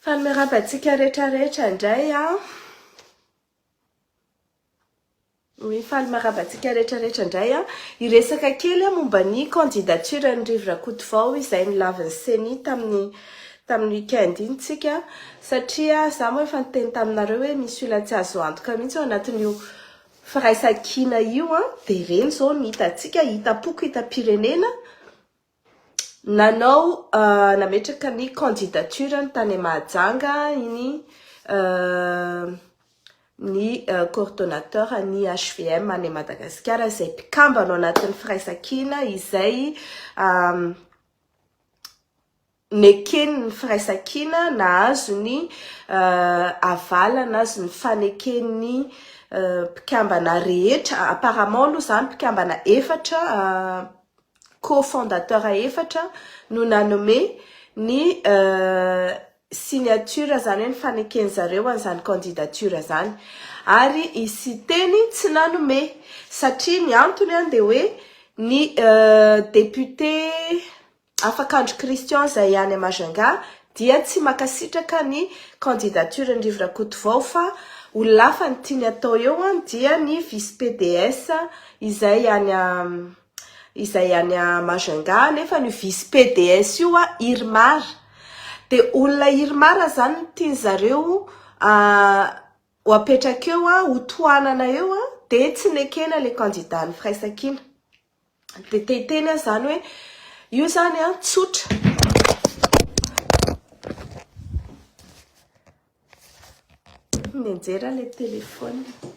Fa miarahaba antsika rehetra rehetra indray an. Oui, faly miarahaba antsika rehetra rehetra indray an. Hiresaka kely an momba ny candidature ny Rivo Rakotovao izay nilavin'ny CENI tamin'ny tamin'ny week-end iny tsika satria za moa efa niteny taminareo hoe misy olona tsy azo antoka mihitsy ao anatin'io firaisankina io an dia ireny izao no hitantsika hitam-poko hitam-pirenena Nanao nametraka ny candidature-ny tany Mahajanga iny ny coordonnateur ny HVM any Madagasikara izay mpikambana ao anatin'ny firaisankina izay Nekeny ny firaisankina nahazo ny avalana azy ny faneken'ny mpikambana rehetra, apparemment aloha izany mpikambana efatra, co-fondateur efatra no nanome ny signature izany hoe ny faneken'ny zareo an'izany candidature izany ary i Siteny tsy nanome satria ny antony dia hoe ny député Afaka Andry Christian izay any à Majunga dia tsy makasitraka ny candidature ny Rivo Rakotovao fa olona hafa ny tiany atao eo an dia ny vice PDS izay any à izay any à Majunga nefa ny vice PDS io an Irmar de olona Irmar izany no tiany zareo ho apetraka eo an ho tohanana eo an de tsy nekena ilay candidat ny firaisankina. Dia te hiteny aho izany hoe io izany an, tsotra. Nianjera ilay telefaonina.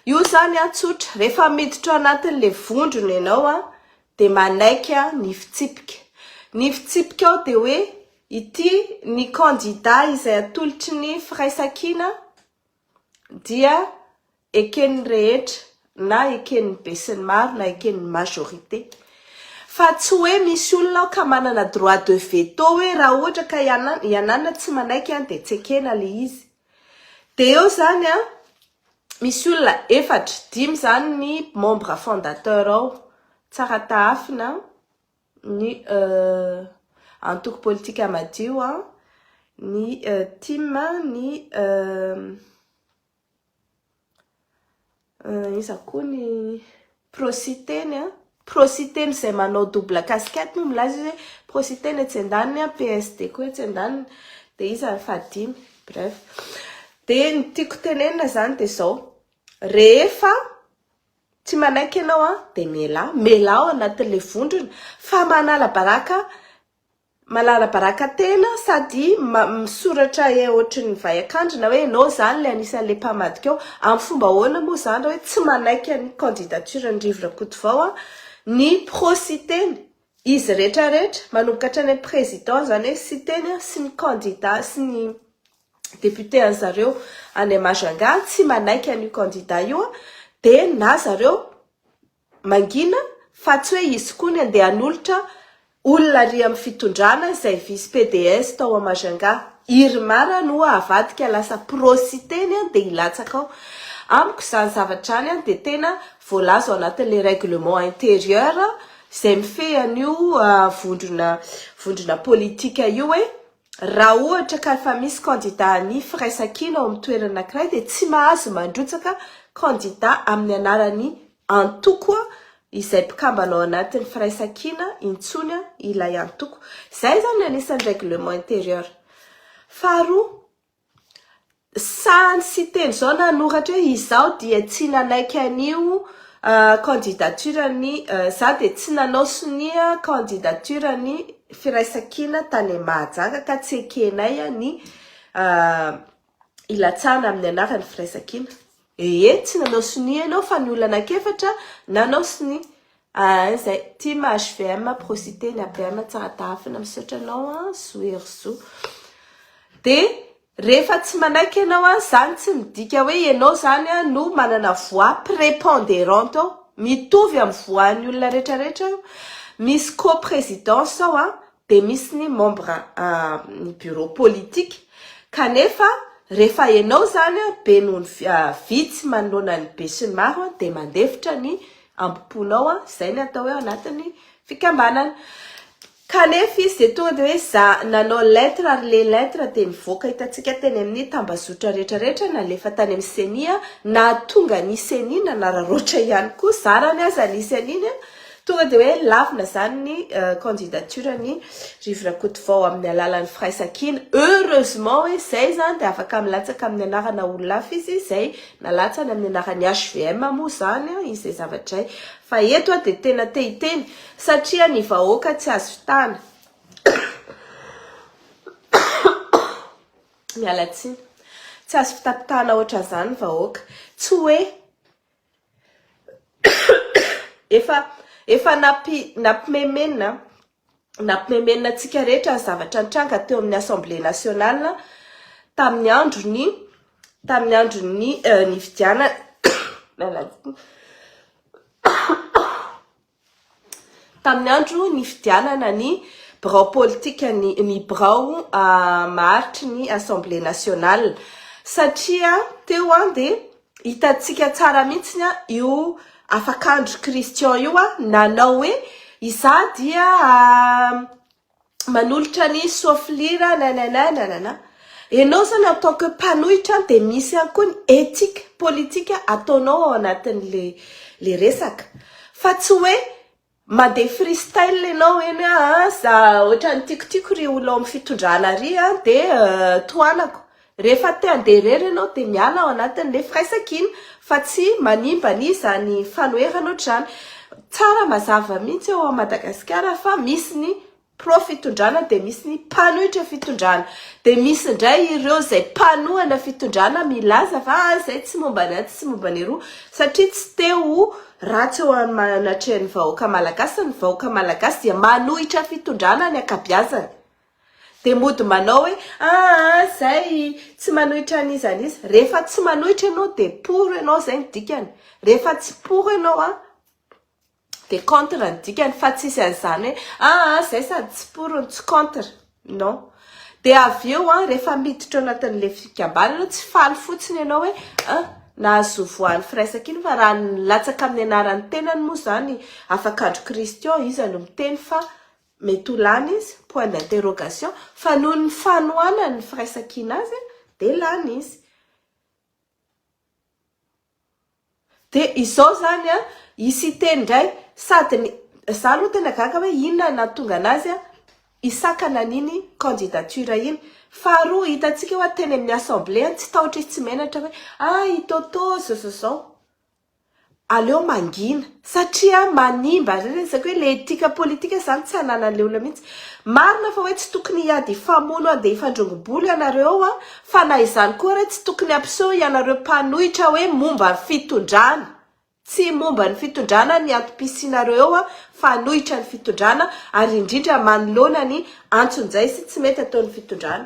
Io izany an, tsotra. Rehefa miditra anatin'ilay vondrona ianao an, dia manaiky an, ny fitsipika. Ny fitsipika ao dia hoe ity ny kandida izay atolotry ny firaisankina. dia eken'ny rehetra na eken'ny besinimaro na eken'ny majorité fa tsy hoe misy olona ao ka manana droit de veto hoe raha ohatra ka i anana tsy manaiky an dia tsy ekena le izy dia eo zany an misy olona efatra dimy zany ny membre fondateur ao tsara tahafina ny antoko politika madio an, ny tim an, ny iza koa ny prositeny an, prositeny izay manao double casquette moa milaza izy hoe prositeny etsy andaniny an, PSD koa etsy andaniny, dia iza ny fahadimy? Bref, dia ny tiako tenenina izany dia izao, rehefa Tsy manaiky ianao an, dia mialà, mialà ao anatin'ilay vondrona fa manala baraka, manala baraka tena sady misoratra ohatry ny vay an-kandrina hoe ianao izany ilay anisan'ilay mpamadika ao, amin'ny fomba ahoana moa izany raha hoe tsy manaiky ny candidature-n'i Rivo Rakotovao ny pro-site-ny? Izy rehetra rehetra, manomboka hatrany amin'ny président izany hoe Siteny an, sy ny candidats sy ny députés an'i zareo any Majunga tsy manaiky an'io candidat io an, dia na zareo mangina fa tsy hoe izy koa ny andeha hanolotra olona ary amin'ny fitondrana izay vice PDS tao à Majunga. Irmar an ho'a avadika lasa pro Siteny an dia hilatsaka ao. Amiko izany zavatra izany an dia tena voalaza ao anatin'ilay règlement intérieur izay mifehy an'io vondrona vondrona politika io hoe raha ohatra ka efa misy kandida ny firaisankina ao amin'ny toerana anankiray dia tsy mahazo mandrotsaka kandida amin'ny anaran'ny antoko izay mpikambana ao anatin'ny firaisankina intsony ilay antoko. Izay izany ny anisan'ny règlement intérieur. Faharoa, Sahy tsy teny izao nanoratra hoe izaho dia tsy nanaiky an'io candidature ny, izaho dia tsy nanao sonia candidature ny Firaisankina tany Mahajanga ka tsy ekenay ny hilatsahana amin'ny anaran'ny Firaisankina. Ee tsy nanao sonia enao fa ny olona anakefatra nanao sonia aa zay tim hvm prosite ny apm tsara tafina misaotra anao aa zo hery zo de rehefa tsy manaiky enao aa zany tsy midika hoe enao zany aa no manana voix preponderante ao mitovy am voix ny olona retraretra io misy co-presidence ao aa dia misy ny membre ny bureau politique kanefa rehefa ianao zany a be noho ny vitsy manoloana ny be sy ny maro a dia mandefitra ny amboponao a zay ny atao hoe ao anatin'ny fikambanana kanefa izy dia tonga dia hoe za nanao lettre ary le lettre dia nivoaka hitantsika teny amin'ny tambazotra rehetra rehetra nalefa tany amin'ny ceni a nahatonga ny ceni nanararaotra ihany koa zarany aza ny ceni a Tonga dia hoe lavina izany ny candidature ny Rivo Rakotovao amin'ny alalan'ny firaisankina. Heureusement hoe izay izany dia afaka milatsaka amin'ny anarana olona hafa izy izay nalatsany amin'ny anaran'ny hvm moa izany izay zavatra izay. Fa eto aho dia tena te hiteny satria ny vahoaka tsy azo vitana. Miala tsiny. Tsy azo fitapitahana ohatran'izany ny vahoaka. Tsy hoe. Efa efa nampi, nampimemenina nampimemenina antsika rehetra ny zavatra nitranga teo amin'ny Assemblée nationale tamin'ny andron'ny tamin'ny andron'ny uh, nifidianana Tamin'ny andro nifidianana ny birao politika ny ny birao maharitry ny Assemblée nationale satria teo dia hitantsika tsara mihitsy io Afakandro Christian io nanao hoe izaho dia manolotra ny soafilira nanana nanana enao zany en tant que mpanohitra dia misy ihany koa ny ethique politika ataonao ao anatin'le le resaka fa tsy hoe mandeha freestyle enao eny hoe ah za ohatran'ny tikotiko ry olona ao amin'ny fitondrana ry ah dia tohanako Rehefa te handeha irery ianao dia miala ao anatin' ilay firaisankina iny fa tsy manimba an' izany fanoherana ohatr'izany. Tsara mazava mihitsy ao Madagasikara fa misy ny pro fitondrana dia misy ny mpanohitra fitondrana. Dia misy indray ireo izay mpanohana fitondrana milaza fa ah izay tsy momba ny atsy tsy momba ny eroa satria tsy te ho ratsy eo anatrehan'ny vahoaka malagasy. Ny vahoaka malagasy dia manohitra fitondrana ny ankabiazany. Dia mody manao hoe aa zay tsy manohitra an iza an iza, rehefa tsy manohitra ianao dia pour ianao zay ny dikany, rehefa tsy pour ianao an dia contre ny dikany fa tsisy an zany hoe aa zay sady tsy pour no tsy contre non, dia avy eo an rehefa miditra ao anatin ilay fikambanana tsy faly fotsiny ianao hoe an nahazo voan firaisana iny fa raha nilatsaka amin ny anaran tenany moa zany afakandro christian iza no miteny fa Mety ho lany izy, point d'interrogation, fa noho ny fanohanany ny firaisankina azy dia lany izy. Dia izao izany an, i Siteny indray sady ny, izaho aloha tena gaga hoe inona no nahatonga anazy hisakana an'iny candidature iny. Faharoa, hitantsika hoe teny amin'ny assemblée any tsy tahotra izy tsy menatra hoe ah i Toto izao izao izao. Aleo mangina satria manimba zay zany ezaka hoe le etika politika zany tsy anananle olona mihitsy. Marina fa hoe tsy tokony hiady hifamono handeha hifandrongo-bolo ianareo an, fa na izany koa re tsy tokony hampiseho ianareo mpanohitra hoe momba ny fitondrana. Tsy momba ny fitondrana ny antom-pisianareo eo an, fanohitra ny fitondrana ary indrindra manoloana ny antsonjay sy tsy mety ataon'ny fitondrana.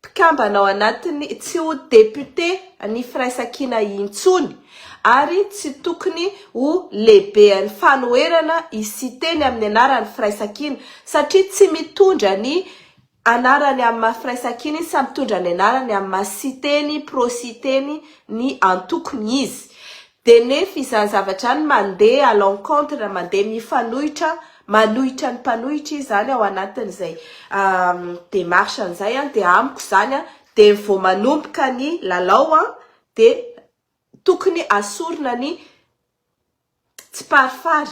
mpikambana ao anatiny tsy ho député ny firaisankina intsony ary tsy tokony ho lehibean'ny fanoherana i Siteny amin'ny anaran'ny firaisankina satria tsy mitondra ny anarany amin'ny maha firaisankina izy fa mitondra ny anarany amin'ny maha Siteny, pro-Siteny, ny antokony izy. Dia nefa izany zavatra izany mandeha à l'encontre, mandeha mifanohitra, manohitra ny mpanohitra izy izany ao anatin'izay démarche izay dia amiko izany dia vao manomboka ny lalao dia tokony asorina ny tsiparifary.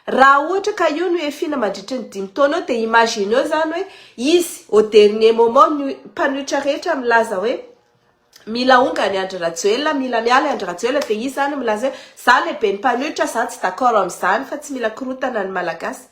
Raha ohatra ka io no hiafiana mandritry ny dimy taona eo dia imagineo izany hoe izy au dernier moment ny mpanohitra rehetra milaza hoe. Mila ongany Andry Rajoelina, mila miala i Andry Rajoelina dia izy izany milaza hoe za le ben'ny mpanohitra, za tsy d'accord amin'izany fa tsy mila korotana ny Malagasy.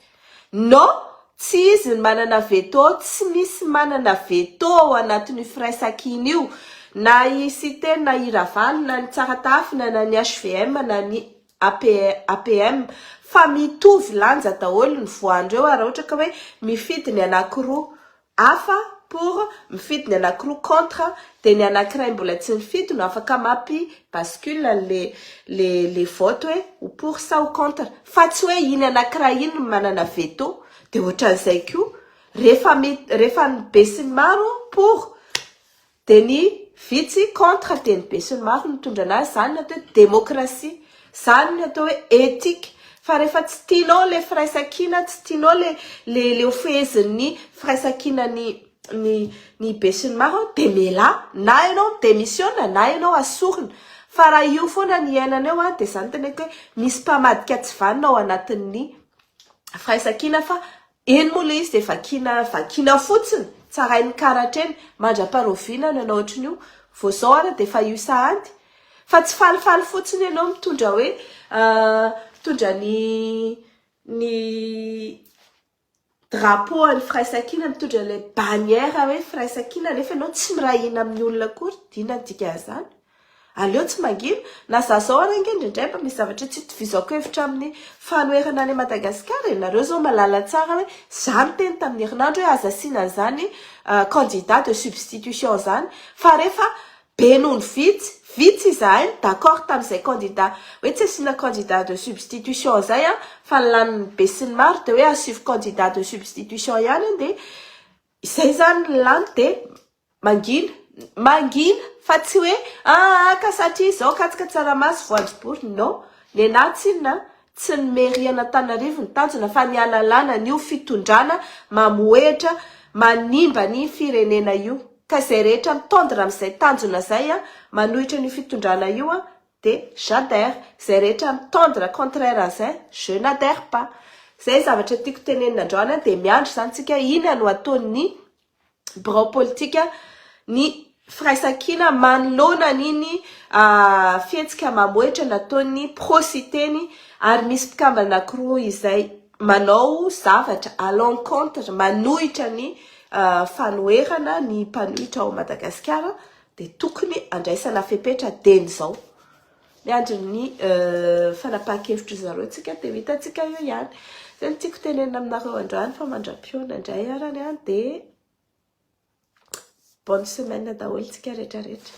Non, tsy izy no manana veto, tsy misy manana veto ao anatin'io firaisankina io, na i Siteny na i Ravalo na ny Tsaratafina na ny HVM na ny APM fa mitovy lanja daholo ny voan-dreo ary raha ohatra ka hoe mifidy ny anankiroa hafa, pour, mifidy ny anakiroa, contre, dia ny anakiray mbola tsy nifidy no afaka mampi bascule an'le le le vote hoe ho pour sa ho contre, fa tsy hoe iny anakiray iny no manana veto, dia ohatran'izay koa, rehefa mi rehefa ny be sy ny maro pour, Dia ny vitsy contre dia ny besinimaro mitondra anazy, izany ny atao hoe démocratie, izany ny atao hoe éthique, fa rehefa tsy tianao ilay firaisankina, tsy tianao ilay ilay ilay ho fehezin'ny firaisankina ny ny ny besinimaro dia mialà, na ianao mi démissiona na ianao asorina, fa raha io foana ny iainana eo dia izany no teneniko hoe misy mpamadika tsy vanona ao anatin'ny firaisankina fa Eny moa ilay izy dia vakiana vakiana fotsiny, tsarain'ny karatra eny, mandra-paroviana ny anao ohatry ny io, vao izao ary dia efa io sahady. Fa tsy falifaly fotsiny ianao mitondra hoe mitondra ny ny drapeau an'ny firaisankina, mitondra ilay bannière hoe firaisankina nefa ianao tsy miray hina amin'ny olona akory, inona ny dikan'izany? Aleo tsy mangina, na za zao ary ange indraindray mba misy zavatra tsy itovizako hevitra amin'ny fanoherana an'i Madagasikara e! Nareo zao mahalala tsara hoe za niteny tamin'ny herinandro hoe aza asiana an'izany candidat de substitution izany fa rehefa be noho ny vitsy, vitsy izahay no d'accord tamin'izay candidat hoe tsy asiana candidat de substitution izay an! fa ny lanin'ny be sy ny maro dia hoe asio candidat de substitution ihany an! dia izay izany ny lany dia Mangina, mangina fa tsy hoe aa ka satria izao katsaka tsaramaso voanjobory non! Nenah tsinona a! Tsy ny mairie an'Antananarivo no tanjona fa ny hanalana an'io fitondrana mamohehitra manimba ny firenena io ka izay rehetra mitendre amin'izay tanjona izay a manohitra an'io fitondrana io a de j'adhère, izay rehetra mitendre contraire an'izay je n'adhère pas. Izay zavatra tiako tenenina androany a de miandry izany tsika inona no ataon'ny birao politika ny firaisankina manoloana an'iny fihetsika mamohitra nataon'ny pro Siteny ary misy mpikambana anankiroa izay manao zavatra à l'encontre, manohitra ny fanoherana ny mpanohitra ao Madagasikara dia tokony andraisana fepetra dieny izao. Miandry ny fanapahan-kevitr'i zareo tsika dia ho hitantsika eo ihany. Izay no tiako tenenina aminareo androany fa mandram-pihaona indray arany an dia bonne semaine daholo tsika retraretra.